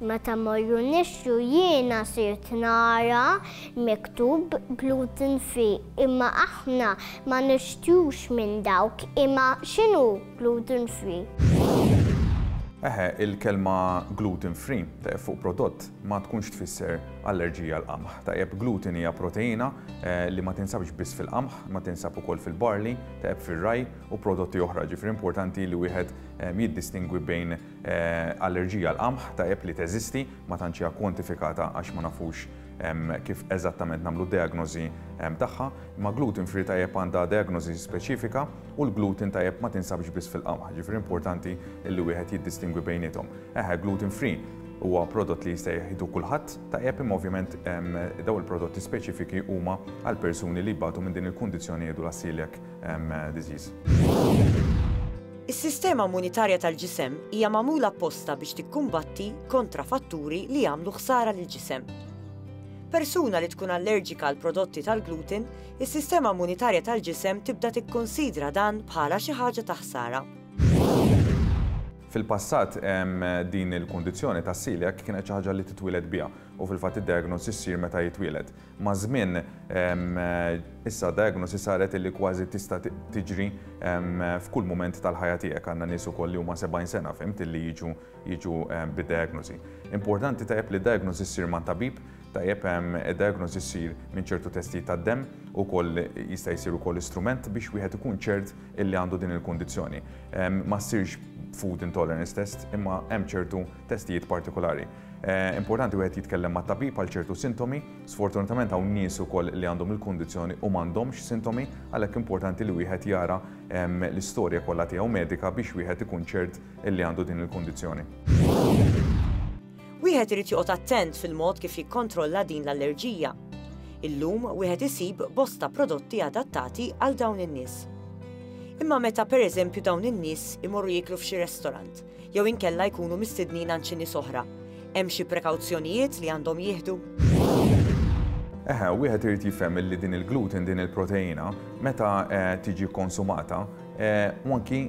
Meta morru nixxu jiena sirt nara miktub gluten free imma aħna ma nixtrux minn dawk imma x'inhu gluten free? Eħe, il-kelma gluten free tajjeb fuq prodott ma tkunx tfisser allerġija għal qamħ. Tajjeb gluten hija proteina li ma tinsabx biss fil-qamħ, ma tinsab ukoll fil-barley, tajjeb fir-rye u prodotti oħra, ġifieri importanti li wieħed jiddistingwi bejn Allerġija għall-qamħ tajjeb li teżisti, ma tantx hija kwantifikata għax ma nafux kif eżattament nagħmlu d-dejagnożi tagħha, imma gluten free tajjeb għandha dejagnożi speċifika u l-gluten tajjeb ma tinsabx biss fil-qamħ, ġifieri importanti li wieħed jiddistingwi bejniethom. Eħe, gluten free huwa prodott li jista' jieħdu kulħadd tajjeb imma ovvjament dawn il-prodotti speċifiki huma għall-persuni li jbatu minn din il-kundizzjoni jgħidulha celiac Is-sistema immunitarja tal-ġisem hija magħmula apposta biex tikkumbatti kontra fatturi li jagħmlu ħsara lill-ġisem. Persuna li tkun allerġika għal prodotti tal-gluten, is-sistema immunitarja tal-ġisem tibda tikkunsidra dan bħala xi ħaġa ta' ħsara. Fil-passat, din il-kundizzjoni tas-celiac kienet xi ħaġa li titwieled biha u fil-fatt id-diagnosi ssir meta jitwieled. Maż-żmien, issa d-diagnosi saret illi kważi tista' tiġri f'kull mument tal-ħajja tiegħek. Għandna nies ukoll li huma 70 sena, fhimt, illi jiġu jiġu bid-diagnosi. Importanti tajjeb li d-diagnosi ssir ma' tabib, tajjeb id-diagnosi ssir minn ċertu testijiet tad-demm, ukoll jista' jsir ukoll istrument biex wieħed ikun ċert illi għandu din il-kundizzjoni. Ma ssirx food intolerance test, imma hemm ċertu testijiet partikolari. Importanti wieħed jitkellem mat-tabib għal ċertu sintomi. Sfortunatament hawn nies ukoll li għandhom il-kundizzjoni u m'għandhomx sintomi, għalhekk importanti li wieħed jara l-istorja kollha tiegħu medika biex wieħed ikun ċert li għandu din il-kundizzjoni. Wieħed irid joqgħod attent fil-mod kif jikkontrolla din l-allerġija. Illum wieħed isib bosta prodotti adattati għal dawn in-nies. Imma meta pereżempju dawn in-nies imorru jieklu f'xi restorant, jew inkella jkunu mistednin għand xi nies oħra, hemm xi prekawzjonijiet li għandhom jieħdu? Eħe, wieħed irid jifhem li din il-gluten, din il-proteina, meta eh, tiġi konsumata, eh, u anki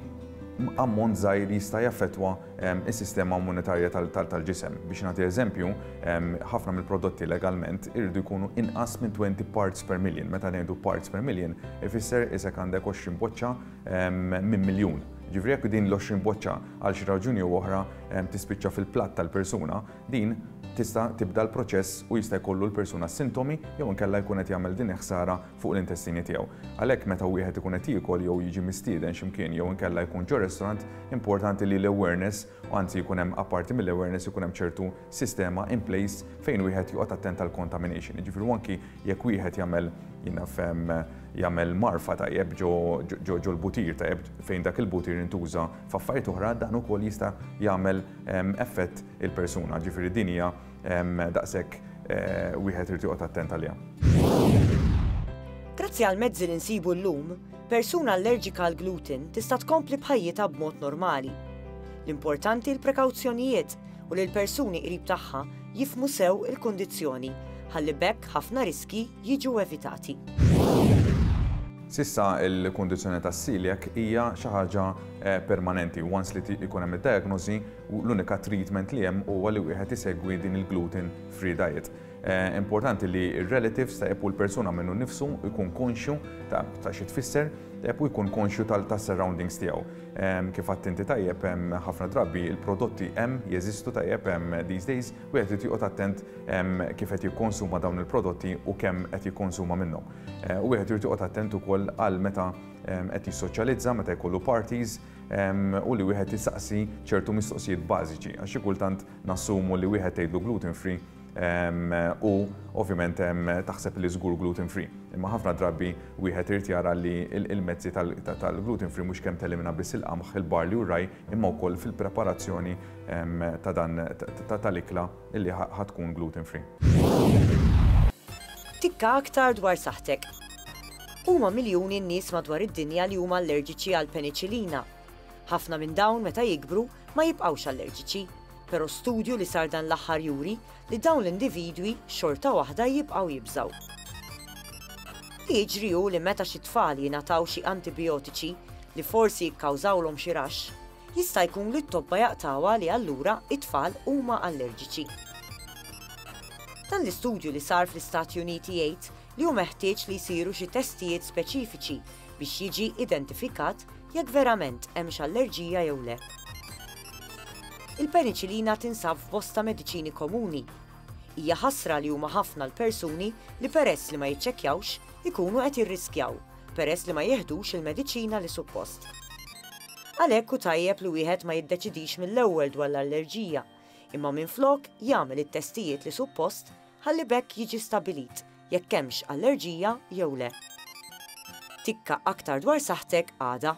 ammont żgħir jista' jaffettwa ehm, is-sistema immunitarja tal-ġisem. Biex nagħti eżempju, ehm, ħafna mill-prodotti legalment irridu jkunu inqas minn 20 parts per million. Meta ngħidu parts per million, ifisser isek għandek 20 boċċa minn miljun. Jiġifieri jekk din l-20 boċċa għal xi raġuni jew oħra tispiċċa fil-platt tal-persuna, din tista' tibda l-proċess u jista' jkollu l-persuna sintomi jew inkella jkun qed jagħmel din il-ħsara fuq l-intestini tiegħu. Għalhekk meta wieħed ikun qed jiekol jew jiġi mistieden xi mkien jew inkella jkun ġo restaurant, importanti li l-awareness u anzi jkun hemm apparti mill-awareness ikun hemm ċertu sistema in place fejn wieħed joqgħod attent għall-contamination. Jiġifieri u anki jekk wieħed jagħmel jinaf jagħmel marfa tajjeb ġo ġo l-butir tajjeb fejn dak il-butir intuża f'affarijiet oħra dan ukoll jista' jagħmel effett il-persuna. Ġifieri din hija daqshekk eh, wieħed irid joqgħod attent għaliha. Grazzi għal mezzi li nsibu llum, Persuna allerġika għall-gluten tista' tkompli b'ħajjitha b'mod normali. L-importanti l-prekawzjonijiet u li l-persuni qrib tagħha jifhmu sew il-kundizzjoni ħalli b'hekk ħafna riskji jiġu evitati. S'issa l-kundizzjoni tas-celiac hija xi ħaġa eh, permanenti. Once li ikun hemm id-diagnosi, l-unika treatment li hemm huwa li wieħed isegwi din il-gluten free diet. Importanti li r-relative ta' u l-persuna minnu nnifsu jkun konxju ta' xi tfisser u jkun konxju tas-surroundings tiegħu. Kif għadt inti tajjeb, ħafna drabi l-prodotti hemm, jeżistu tajjeb these days, wieħed irid joqgħod attent kif qed jikkonsuma dawn il-prodotti u kemm qed jikkonsuma minnhom. U wieħed irid joqgħod attent ukoll għal meta qed jissoċjalizza, meta jkollu parties u li wieħed isaqsi ċertu mistoqsijiet bażiċi għax xi kultant nassumu li wieħed tgħidlu gluten free u ovvjament taħseb li żgur gluten free. Imma ħafna drabi wieħed irid jara li il-mezzi tal-gluten free mhux kemm telimina biss il-qamħ, il-barli u raj imma wkoll fil-preparazzjoni ta' dan tal-ikla li ħad tkun gluten free. Tikka aktar dwar saħħtek. Huma miljuni n-nies madwar id-dinja li huma allerġiċi għall-peniċilina. Ħafna minn dawn meta jikbru ma jibqgħux allerġiċi. Però studju li sar dan l-aħħar juri li dawn l-individwi xorta waħda jibqgħu jibżgħu. Li jiġri hu li meta xi tfal jingħataw xi antibijotiċi li forsi jikkawżawlhom xi raxx, jista' jkun li t-tobba jaqtgħuha li allura t-tfal huma allerġiċi. Dan l-istudju li sar fl-Istati Uniti jgħid li hu meħtieġ li jsiru xi testijiet speċifiċi biex jiġi identifikat jekk verament hemmx allerġija jew le. Il-peniċilina tinsab f'bosta mediċini komuni. Hija ħasra li huma ħafna l-persuni li peress li ma jiċċekkjawx ikunu qed jirriskjaw peress li ma jiħdux il-mediċina li suppost. Għalhekk hu tajjeb li wieħed ma jiddeċidix mill-ewwel dwar l-allerġija, imma minflok jagħmel it-testijiet li suppost ħalli b'hekk jiġi stabbilit jekk hemmx allerġija jew le. Tikka aktar dwar saħħtek għada.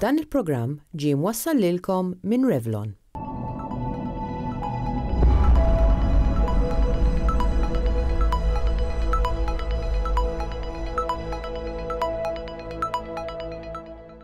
Dan il-programm ġie mwassal lilkom minn Revlon.